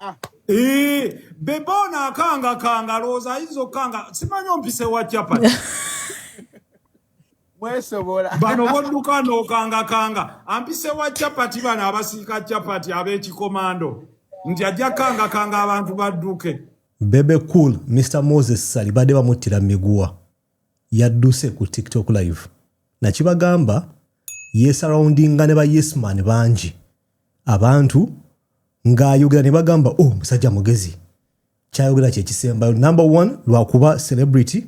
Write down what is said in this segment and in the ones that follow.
Ah. Eh, bebe ono akangakanga lowooza ayinza okukanga simanyi ompise wa capati mwesobola bano bodduka n'okangakanga ampise wa capati bano abasiika capati ab'ekikomando nti ajja kukangakanga abantu badduke bebe cool mr moses sali badde bamuttira miguwa yadduse ku tiktok live nakibagamba yesarawundinga ne ba yesman bangi abantu ng'ayogera ne bagamba o oh, musajja mugezi kyayogera kyekisembayo number one lwakuba celebrity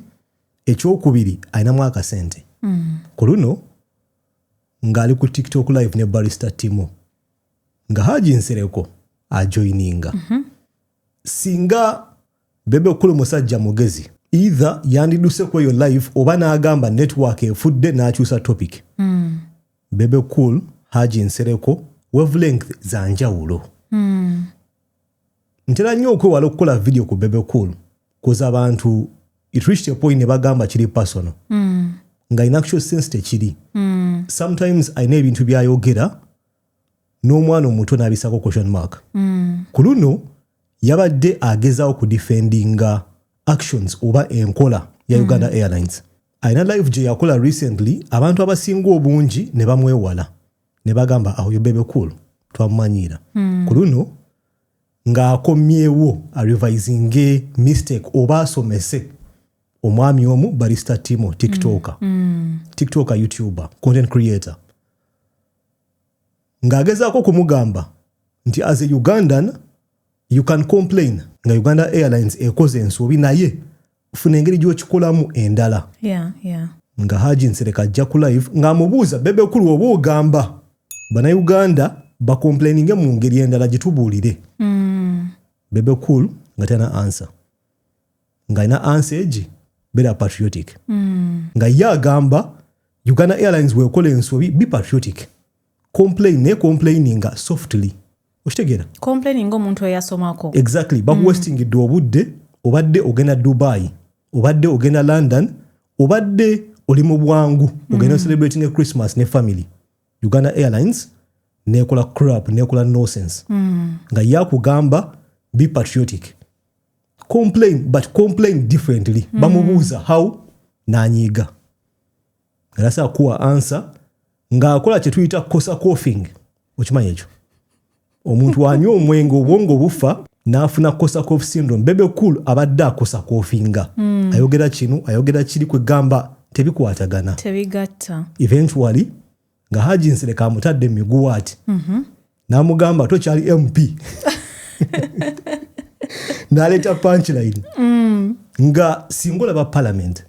ekyokubiri alinamu akasente mm. ku luno ng'ali ku tiktok live ne barista timo nga haji nsereko ajoininga mm -hmm. singa Bebe okule musajja mugezi either yandiduse ku eyo live oba n'agamba network efudde n'akyusa topic mm. bebe cool haji nsereko wavelength za njawulo mm. ntera nnyo okwewala okukola video ku bebe cool kuza abantu it reached a point ne bagamba kiri personal mm. nga in actual sense tekiri mm. sometimes alina ebintu byayogera n'omwana omuto n'abisako question mark mm. ku luno yabadde agezawo ku defendinga actions oba enkola ya mm. uganda mm. airlines alina live gye yakola recently abantu abasinga obungi ne bamwewala ne bagamba awo yobebe cool twamumanyiira mm. ku luno ng'akomyewo arevisinge mistake oba asomese omwami omu barista timo tiktoker mm. mm. tiktoker youtuber content creator ng'agezaako okumugamba nti as a ugandan you can complain nga uganda airlines ekoze ensobi naye funa engeri gyokikolamu endala yeah, yeah. nga haji nsereka ajja ku live ng'amubuuza bebekulu oba ogamba banauganda bakomplaininge mu ngeri endala gitubuulire mm. bebekulu nga tena ansa ng'alina ansi egi beera patriotic mm. nga ye agamba uganda airlines wekola ensobi be patriotic complain naye complaininga softly okitegeera complaininga omuntu eyasomako exactly bakuwestingidde mm. obudde obadde ogenda dubai obadde ogenda london obadde oli mu bwangu ogenda mm. celebrate ne christmas ne family uganda airlines nekola crap nekola nosense mm. nga yakugamba be patriotic complain but complain differently mm. bamubuuza how nanyiiga nasa kuwa ansa ng'akola kye tuyita kosa coughing okimanyi ekyo omuntu anywa omwenge obwongo bufa n'afuna kosa cof syndrome bebe cool abadde akosa kofinga mm. ayogera kino ayogera kiri kwegamba tebikwatagana tebigatta eventually nga haji nsereka amutadde mumiguwa ati mhm. namugamba tokyali mp naleeta punchline mm. nga singa olaba palamenti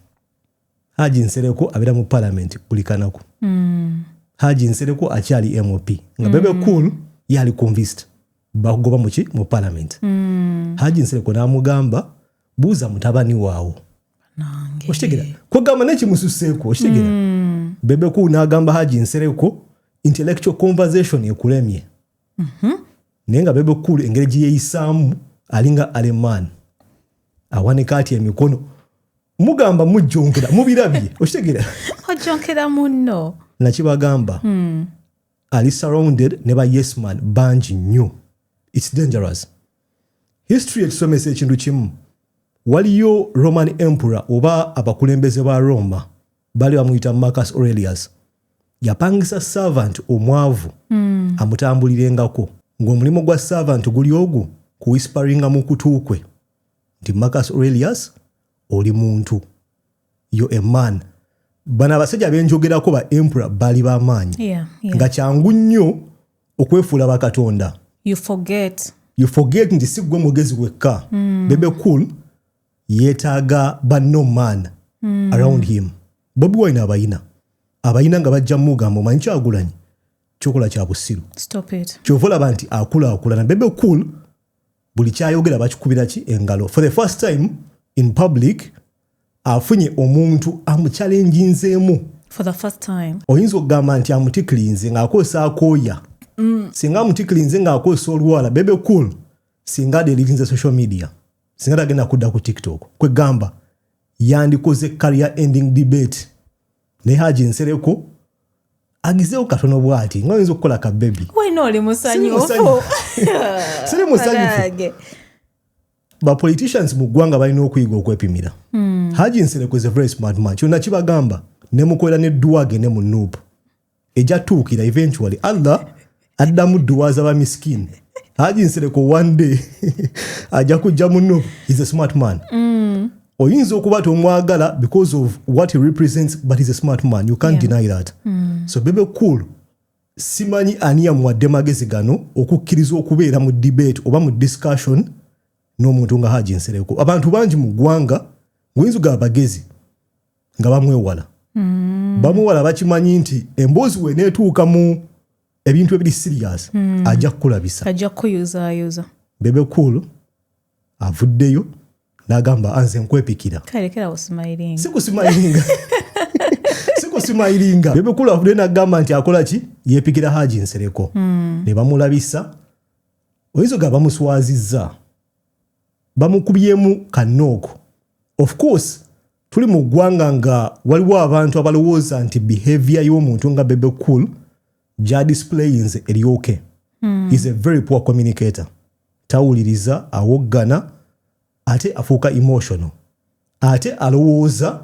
haji nsereko abeera mu palamenti buli kanaku mm. haji nsereko akyali mop nga bebe mm. cool yali convist bakugoba muki mu palamenti haji nsereko namugamba buuza mutabani waawo okitegera kwegamba naye kimususeeko okitegera hmm. bebeku n'agamba haji nsereko intellectual conversation ekulemye mhm. naye nga bebekulu engeri gyeyeyisaamu alinga aleman awanika atya emikono mugamba mujjonkera mubirabye okitegera ojjonkera munno nakibagamba hmm. ali surrounded ne ba yes man bangi nnyo its dangerous history etusomesa ekintu kimu waliyo roman emperor oba abakulembeze ba roma bali bamuyita marcus aurelius yapangisa servant omwavu mm. amutambulirengako ng'omulimu gwa servant guli ogwo kuwisparinga mu kutu kwe nti marcus aurelius oli muntu yo a man bano abasajja benjogerako ba empura baali bamaanyi yeah, yeah. nga kyangu nnyo okwefuula bakatonda you forget, you forget nti si gwe mugezi wekka mm. bebe cool yeetaaga banno man mm. around him bobi wine abayina abayina nga bajja mugamba omanyi kyagulanyi kyokola kya busiru kyova olaba nti akulaakulana bebe cool buli kyayogera bakikubira ki engalo for the first time in public afunye omuntu amucalenjinzeemu oyinza okugamba nti amutiklinze ng'akozesa akooya mm. singa amutiklinze ng'akozesa olwala bebe cool singa adelirinze social media singa tagenda kudda ku tiktok kwegamba yandikoze career ending debate naye haji nsereko agezeewo katono bwati nga oyinza okukola ka bebi wena oli musanyufu siri musanyufu bapoliticians mu ggwanga balina okuyiga okwepimira hmm. haji nsereko is a very smart man kyonna kibagamba nemukolera ne duwa agende mu nuupu ejja tuukira eventually allah addamu duwaza ba miskin haji nsereko one day ajja kujja muno is a smart man mm. oyinza okuba tomwagala because of what he represents but is a smart man you can't yeah. deny that mm. so bebe cool simanyi ani yamuwadde magezi gano okukkiriza okubeera mu debate oba mu discussion n'omuntu nga haji nsereko abantu bangi mu ggwanga ngaoyinza ogaba bagezi nga bamwewala mm. bamwewala bakimanyi nti emboozi weneetuuka mu ebintu ebiri sirias mm. ajja kukulabisa ajja kukuyuzayuza bebe cool avuddeyo nagamba anze nkwepikira sikusimayiringa sikusimayiringa bebe cool avuddeyo nagamba nti akola ki yepikira haji nsereko mm. ne bamulabisa oyinza oga bamuswazizza bamukubyemu kanooko of course Tuli mu ggwanga nga waliwo abantu abalowooza nti behavior y'omuntu nga Bebe Cool gya displayinze eryoke hmm. is a very poor communicator. Tawuliriza, awoggana ate afuuka emotional ate alowooza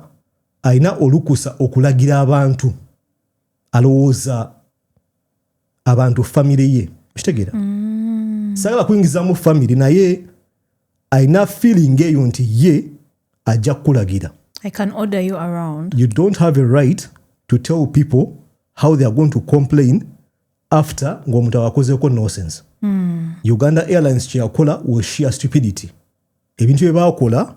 alina olukusa okulagira abantu alowooza abantu famire ye okitegeera mm. sagala kuyingizamu famire naye alina feeling eyo nti ye ajja kukulagira I can order you around. You don't have a right to tell people how they are going to complain after ng'omuntu awakozeeko nonsense. Mm. Uganda Airlines kyeyakola was sheer stupidity. Ebintu bye baakola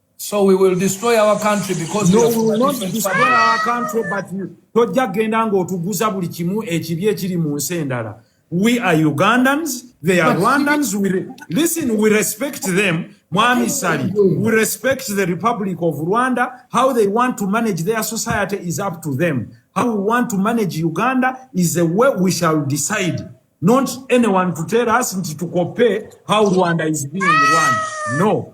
So we will destroy our country because no, we will not destroy family. our country but tojja kugenda ng'otuguza buli kimu ekibi ekiri mu nsi endala we are ugandans they are but rwandans we re listen we respect them mwami sali we respect the republic of rwanda how they want to manage their society is up to them how we want to manage uganda is the way we shall decide not anyone to tell us nti tukope how rwanda is being run no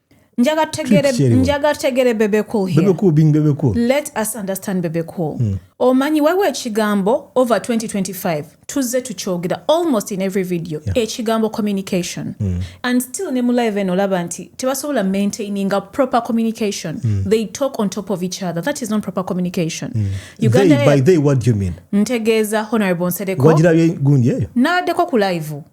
Njaga tegere, Tweet njaga tegere bebe cool here. Bebe cool being bebe cool. Let us understand bebe cool. Mm. Omanyi waliwo ekigambo over 2025 tuzze tukyogera almost in every video yeah. ekigambo communication mm. and still ne mu live eno olaba nti tebasobola maintaining a proper communication mm. they talk on top of each other that is not proper communication mm. Uganda they, by they what do you mean ntegeeza honorable nsereko wagirabye gundi eyo n'addeko ku live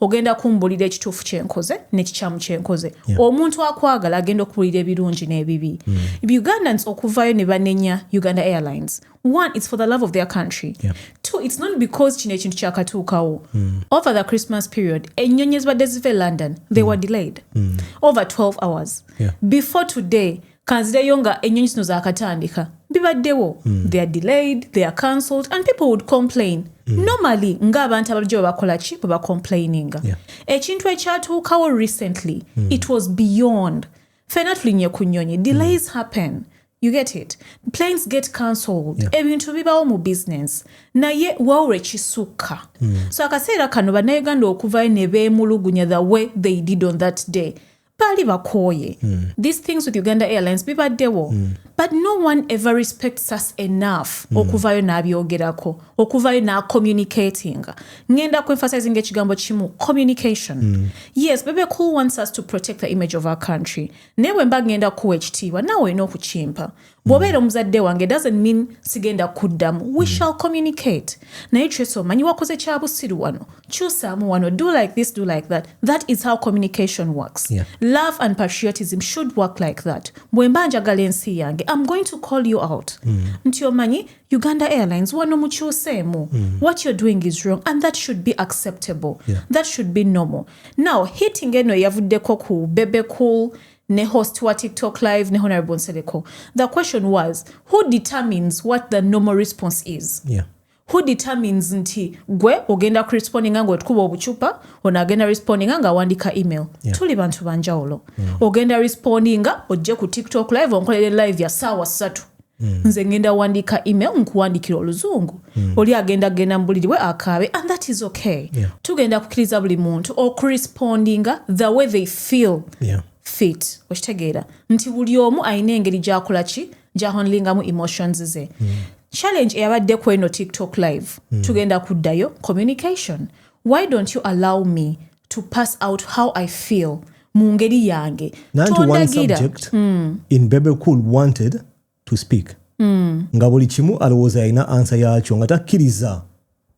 ogenda kumbulira ekituufu kyenkoze nekikyamu kyenkoze yeah. omuntu akwagala agenda okuwulira ebirungi n'ebibi mm. ugandans okuvayo ne banenya uganda airlines one it's for the love of their country yeah. two it's not because kino ekintu kyakatuukawo mm. over the christmas period enyonyi ezibadde ziva e london they mm. were delayed mm. over 12 hours yeah. before today kanzireyo nga ennyonyi zino zaakatandika bibaddewo mm. they are delayed they are cancelled and people would complain mm. normally ng'abantu abalijjo bwe bakola ki bwe bacomplaininga yeah. ekintu ekyatuukawo recently mm. it was beyond fena tulinye ku nnyonyi hmm. delays mm. happen you get it planes get cancelled yeah. ebintu bibawo mu business naye wawula ekisukka mm. so akaseera kano bannayuganda okuvayo ne beemulugunya the way they did on that day baali bakooye mm. these things with uganda airlines bibaddewo mm. but no one ever respects us enough mm. okuvayo n'abyogerako okuvayo n'acommunicatinga ngenda ku emphasizing ekigambo kimu communication mm. yes bebe cool wants us to protect the image of our country naye bwe mba ngenda kuwa ekitiibwa naawe olina okukimpa bwobeera omuzadde wange doesn't mean sigenda kuddamu we mm. shall communicate naye trace omanyi wakoze kyabusiru wano kyusaamu wano do like this do like that that is how communication works yeah. love and patriotism should work like that bwemba njagala ensi yange im going to call you out mm. nti omanyi uganda airlines wano mukyuseemu mm. what you're doing is wrong and that should be acceptable yeah. that should be normal now hitting eno eyavuddeko ku bebecool ne host wa TikTok live ne Honorable Nsereko. The question was who determines what the normal response is? Yeah. Who determines nti gwe ogenda ku responding nga otukuba obuchupa ona agenda responding nga awandika email. Yeah. Tuli bantu banjawulo. Mm. Ogenda responding nga ojje ku TikTok live onkolere live ya sawa satu. Mm. nze ngenda wandika email nkuwandikira oluzungu mm. oli agenda genda mubuliri bwe akaabe and that is okay yeah. tugenda kukiriza buli muntu okurespondinga the way they feel yeah. fit okitegeera nti buli omu alina engeri gyakola ki gyahonlingamu emotions ze mm. challenge eyabadde ku eno tiktok live mm. tugenda kuddayo communication why don't you allow me to pass out how I feel mu ngeri yange nanti one subject mm. in bebe cool wanted to speak mm. nga buli kimu alowooza yalina ansa yakyo nga takkiriza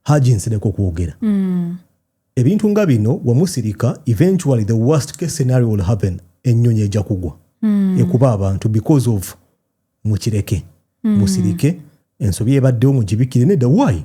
haji nsereko kwogera mm. ebintu nga bino wamusirika eventually the worst case scenario will happen ennyonyi ejja kugwa mm. ekuba abantu because of mukireke mm. musirike ensobi ebaddewo mugibikire nedda why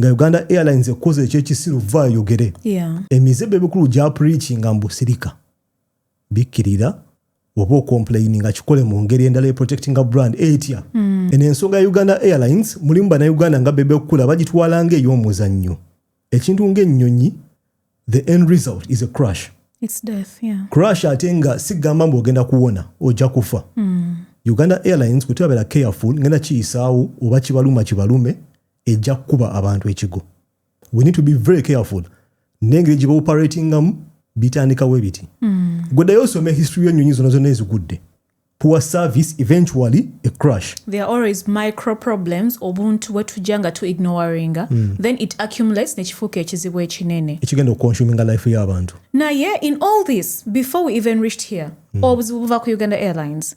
nga uganda airlines ekoze ekyekisiru va ayogere yeah. emize bebikulu gya preachinga mbu sirika bikkirira oba okomplaini nga kikole mu ngeri endala eprotectinga brand etya mm. eno ensonga ya uganda airlines mulimu banauganda nga bebekukula bagitwala nga ey'omuzannyo ekintu ng'ennyonyi the end result is a crush It's death, yeah. crush ate nga sigamba mbu ogenda kuwona ojja kufa mm. uganda airlines kutebabera careful ngenda kiyisaawo oba kibaluma kibalume ejja kukuba abantu ekigo we need to be very careful nengeri gye baoperatingamu bitandikawo ebiti mm. gwe ddayo osome history y'ennyonyi zona zonna ezigudde poor service eventually a crash there are always micro problems obuntu bwetujja nga tu ignoringa mm. then it accumulates nekifuuka ekizibu ekinene ekigenda okuconsuminga life y'abantu naye in all this before we even reached here mm. obuzibu buva ku uganda airlines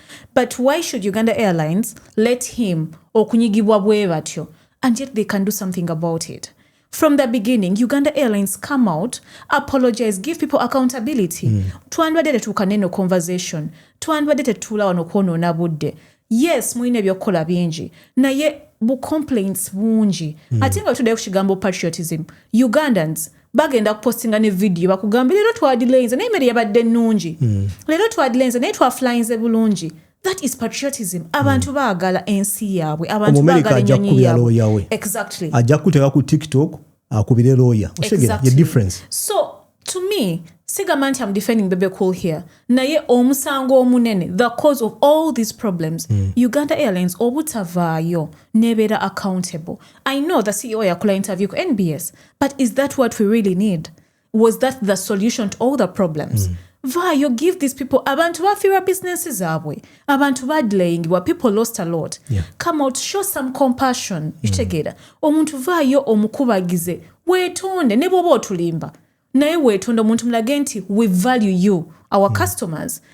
but why should uganda airlines let him okunyigibwa bwe batyo and yet they can do something about it from the beginning uganda airlines come out apologize give people accountability mm. twandibadde tetuuka neno conversation twandibadde tetuula wano kwonoona budde yes mulina ebyokukola bingi naye bu complaints bungi mm. ate nga tudayo ku kigambo patriotism ugandans bagenda kupostinga ne vidiyo bakugambe leero twadilainze naye mere yabadde ennungi mm. leero twadilainze naye twafulainze bulungi that is patriotism abantu mm. baagala ensi yaabwe abantu baagala enyonyi yaabwe exactly ajja kukuteeka ku tiktok akubire lawyer osegera ye difference so to me sigamba nti am defending bebe cool here naye omusango omunene the cause of all these problems mm. uganda airlines obutavaayo nebeera accountable i know the ceo yakola interview ku nbs but is that what we really need was that the solution to all the problems mm. vaayo give these people abantu bafiirwa bizinensi zaabwe abantu badelayingibwa people lost a lot yeah. come out show some compassion mm. kitegeera omuntu vaayo omukubagize weetonde ne bwoba otulimba naye weetonde omuntu mulage nti we value you our mm. customers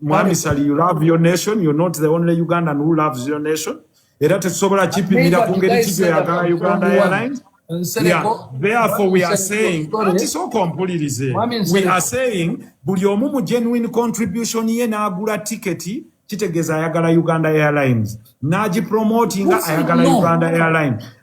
mwami sali you love your nation you're not the only ugandan who loves your nation era tetusobola kipimira ku ngeri kibyo yagala uganda airlines buli omu mu genuine contribution ye n'agula tiketi kitegeeza ayagala uganda airlines n'agipromotinga ayagala uganda airlines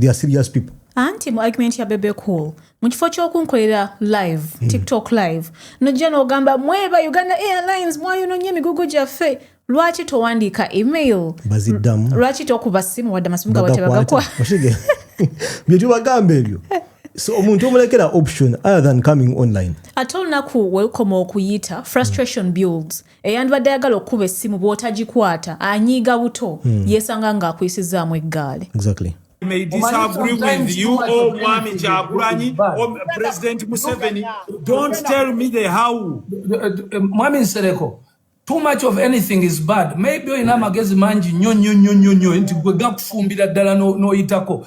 they are serious people anti mu argument ya bebe cool mu kifo kyokunkolera live mm. tiktok live nojja nogamba mweba uganda airlines mwayononye emigugu gyaffe lwaki towandiika email baziddamu lwaki tokuba simu wadde amasimu gabwe tebagakwa byetubagambe ebyo so omuntu omulekera option other than coming online ate olunaku wekoma okuyita frustration mm. builds eyandibadde ayagala okukuba essimu bw'otagikwata anyiiga buto hmm. yeesanga ng'akuyisizzaamu eggaali exactly. may disagree with you or oh, Mwami Kyagulanyi or oh, President Museveni. Don't tell me the how. Uh, uh, uh, Mwami Nsereko, too much of anything is bad. Maybe oyina amagezi mangi nyo nyo nyo nyo nyo nti gwe gakufumbira ddala n'oyitako.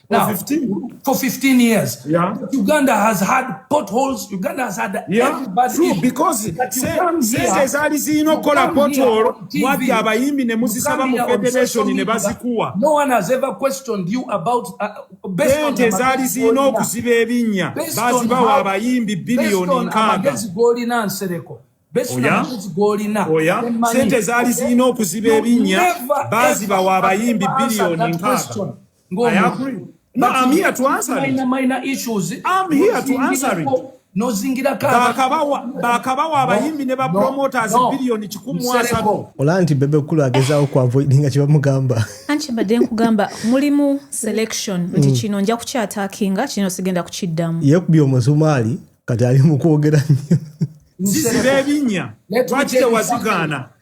Now, for 15, for 15 years, yeah. Uganda has had potholes. Uganda has had yeah, everybody. True, because sente zaali zirina okukola pothole mwajja abayimbi ne muzisaba mu federation ne bazikuwa. No one has ever questioned you about uh, based on sente zaali zirina okuziba ebinnya bazibawa abayimbi biliyoni nkaaga. oyaolina oh, sente zaali zirina okuziba ebinnya bazibawa abayimbi biliyoni nkaaga. Go I agree. No, but I'm here to answer it. Minor, minor issues. I'm here to answer it. nozingira bakabawa abayimbi ne bapromoters biliyoni kikumu asatu olaba nti bebe kulu agezawo kuavoidinga kyebamugamba anti mbadde nkugamba mulimu selection nti mm. kino nja kukyatakinga kino sigenda kukiddamu yekubi omusumaali kati ali mukwogera nnyo zisiba ebinya lwaki tewazigaana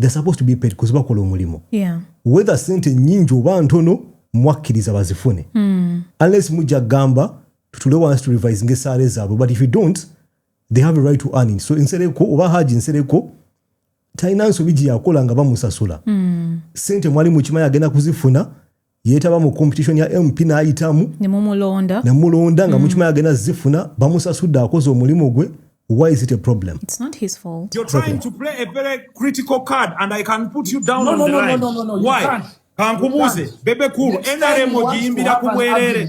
they're supposed to be paid because bakola omulimu yeah. whether sente nyingi oba ntono mwakkiriza bazifune mm. unless mujja gamba tutule wansi to revise ngaesaala ezaabwe but if you don't they have a right to earn it so nsereko oba haji nsereko talina nsobi gye yakola nga bamusasula mm. sente mwali mukimanya agenda kuzifuna yetaba mu competition ya MP n'ayitamu ne mumulonda ne mulonda nga mm. mukimanyi agenda zifuna bamusasudde akoze omulimu gwe why is it a problem it's not his fault you're trying to play a very critical card and i can put you down no, on no, the no, line no, no, no, no, why kankubuuze bebe kulu nrm ogiyimbira ku bwerere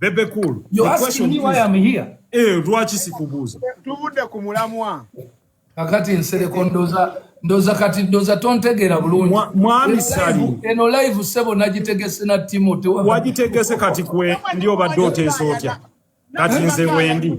Bebe Cool. You ask me why I'm here. Eh, lwaki sikubuuza? Tuvudde ku mulamwa. Kakati nsereko ndoza ndoza kati ndoza tontegera bulungi. Mwami Sali. Eno live sebo nagitegese na Timo tewa. Wagitegese kati kwe ndio badde oteesa otya? Kati nze wendi.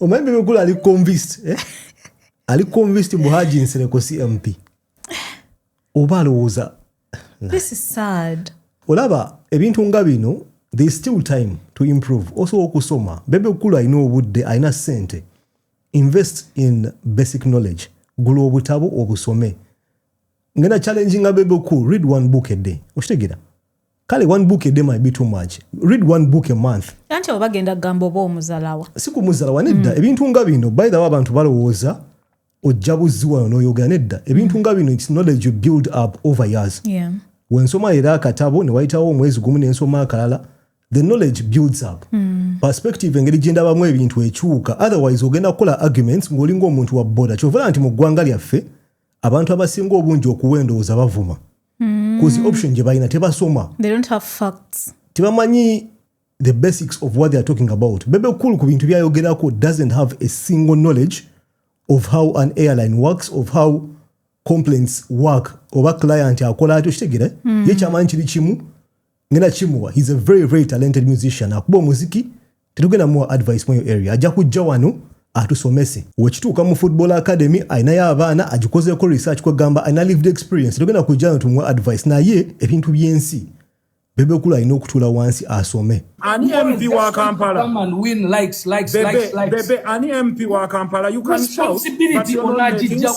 omwembi mukulu ali convinced eh? ali convinced mbu haji nsereko cmp oba alowooza olaba ebintu nga bino there still time to improve also okusoma bebe kukulu alina obudde alina sente invest in basic knowledge gula obutabo obusome ngenda challenging nga bebe kukulu read one book a day okitegera kale one book a day might be too much read one book a month anti oba genda kugamba oba omuzalawa si kumuzalawa nedda mm. ebintu nga bino by the way abantu balowooza ojja buzzi wano n'oyogera nedda ebintu mm. nga bino its knowledge you build up over years yeah. wensoma era akatabo ne wayitawo omwezi gumu nensoma akalala the knowledge builds up mm. perspective engeri gyendabamu ebintu ekyuka otherwise ogenda kukola arguments ng'olinga omuntu wa boda kyovala nti mu ggwanga lyaffe abantu abasinga obungi okuwa endowooza bavuma mm. cause option gye balina tebasoma tebamanyi the basics of what they are talking about bebe cool ku bintu byayogerako doesn't have a single knowledge of how an airline works of how complaints work oba client akola atyo kitegere mm. ye kyamanyi kiri kimu ngena kimuwa he's a very very talented musician akuba omuziki tetugenda muwa advice mweyo area ajja kujja wano atusomese wekituuka mu football academy alinayo abaana agikozeko research kwegamba alina lived experience tetugenda kujja wano tumuwa advice naye ebintu byensi bebekulu alina okutuula wansi asome ani mp wa kampala bebe ani mp wa kampala you can shout but you're not making sense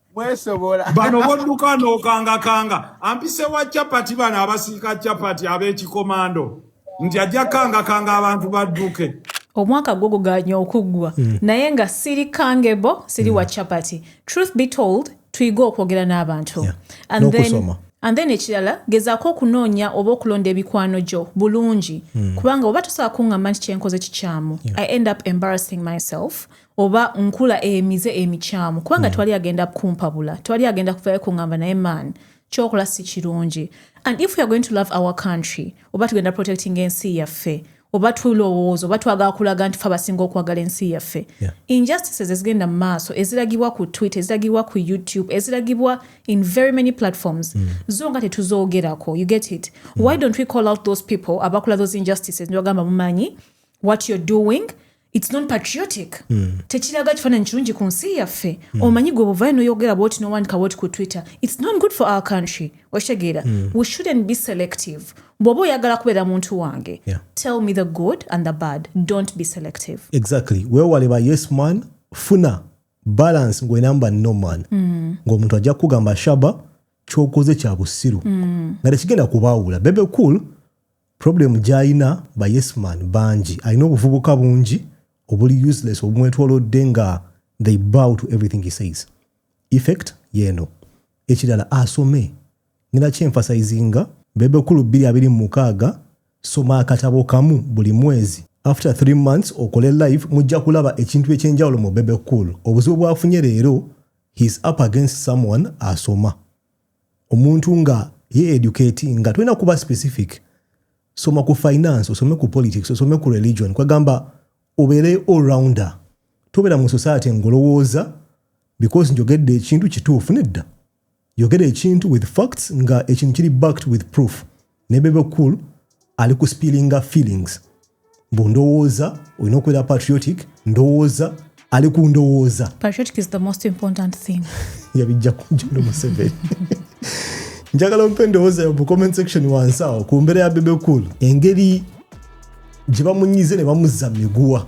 mwesobola bano bodduka n'okangakanga ampise wa chapati bano abasiika chapati ab'ekikomando nti ajja kangakanga abantu badduke omwaka gwo guganye okuggwa mm. naye nga siri kangebo siri mm. wa chapati truth be told tuyige okwogera n'abantu yeah. and then and then ekirala gezaako okunoonya oba okulonda ebikwano gyo bulungi mm. kubanga oba tosobola kuŋŋamba nti kyenkoze kikyamu yeah. i end up embarrassing myself oba nkula emize emikyamu kubanga mm. twali agenda kumpabula twali agenda kuvayo kungamba naye man kyokola si kirungi and if weare going to love our country oba tugenda protecting ensi yaffe oba tulowooza oba twagala kulaga nti fe abasinga okwagala ensi yaffe yeah. injustices ezigenda mu maaso eziragibwa ku twitter eziragibwa ku youtube eziragibwa in very many platforms mm. zo nga tetuzoogerako you get it mm. why don't we call out those people abakola those injustices nibagamba mumanyi what you're doing its non patriotic mm. tekiraga kifaananyi kirungi ku nsi yaffe mm. omanyi gwe obuvayo noyogera bwoti nowandika bwoti ku twitter its not good for our country okitegeera mm. we shouldn't be selective bw'oba oyagala kubeera muntu wange yeah. tell me the good and the bad don't be selective exactly wewale ba yes man funa balance ngwenamba no man mm. ngaomuntu ajja kukugamba shaba kyokoze kya busiru mm. nga tekigenda kubaawula bebe cool Problem gyayina ba yes man bangi alina obuvubuka bungi obuli useless obumwetwolodde nga they bow to everything he says. Effect yeeno. Ekirala asome. Ngenda ki emphasizinga Bebe Cool bbiri abiri mu mukaaga soma akatabo kamu buli mwezi after three months okole live mujja kulaba ekintu ekyenjawulo mu Bebe Cool. Obuzibu bwafunye leero he is up against someone asoma. omuntu nga ye educate nga tulina kuba specific soma ku finance osome ku politics osome ku religion kwegamba obeere allrounder tobeera mu society ngolowooza because njogedde ekintu kituufu nedda yogera ekintu with facts nga ekintu kiri backed with proof ne bebe cool ali ku spillinga feelings mbu ndowooza olina okubeera patriotic ndowooza ali ku ndowooza yabijja kunjalo museveni njagala ompe endowooza yo mu comment section wansi awo ku mbeera ya bebe cool engeri gye bamunyize ne bamuzza miguwa